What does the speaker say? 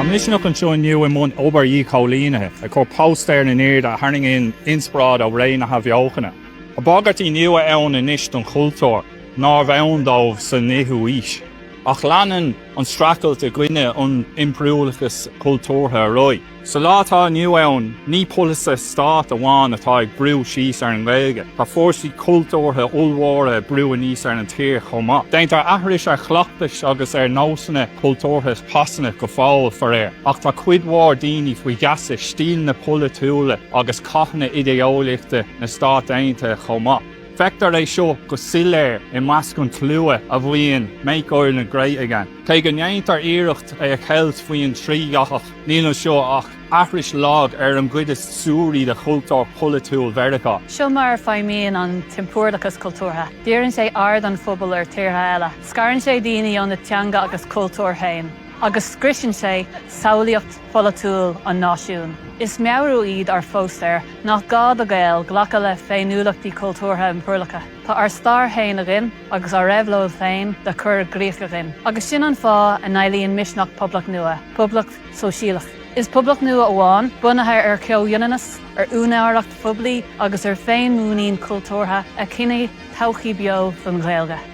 Tá Misneach anseo inniu i mbun obair dhíchoilínithe, ag cur póstaeir in airde a tharraingíonn inspioráid ó ré na hAthbheochana. Tá bagairtí nua ann anois don chultúr nárbh ann dóibh san fhichiú haois. Ach leanann. an streachailt i gcoinne an impiriúlachais chultúrtha ar aghaidh. Sa lá atá inniu ann, ní polasaithe stáit amháin atá ag brú síos ar an nGaeilge, tá fórsaí cultúrtha ollmhóra ag brú aníos ar an tír chomh maith. Déantar aithris ar chleachtais agus ar nósanna cultúrtha Shasana go fóill, faraor, ach tá cuid mhór daoine faoi gheasa stíleanna polaitiúla agus cathanna idé-eolaíochta na Stát Aontaithe chomh maith. Feictear é seo go soiléir i measc an tslua a mhaíonn 'Make Ireland Great Again'. Cé go ndéantar iarracht é a cheilt faoin trídhathach, níl anseo ach aithris lag ar an gcuid is suaraí de chultúr polaitiúil Mheiriceá. Seo mar a feidhmíonn an t-impiriúlachas cultúrtha, dírionn sé aird an phobail ar thíortha eile, scarann sé daoine óna dteanga agus chultúr féin agus scriosann sé samhlaíocht pholaitiúil an náisiúin. Is meabhrú iad ár bpóstaeir nach gá do Ghaeil glacadh le féiniúlachtaí cultúrtha impiriúlacha. Tá ár stair féin againn agus ár réabhlóid féin le cur i gcrích againn. Agus sin an fáth a n-éilíonn Misneach poblacht nua, poblacht sóisialach. Is poblacht nua amháin, bunaithe ar chomhionannas, ar úinéireacht phoiblí agus ar féinmhuinín chultúrtha, a chinnteoidh todhchaí beo don Ghaeilge.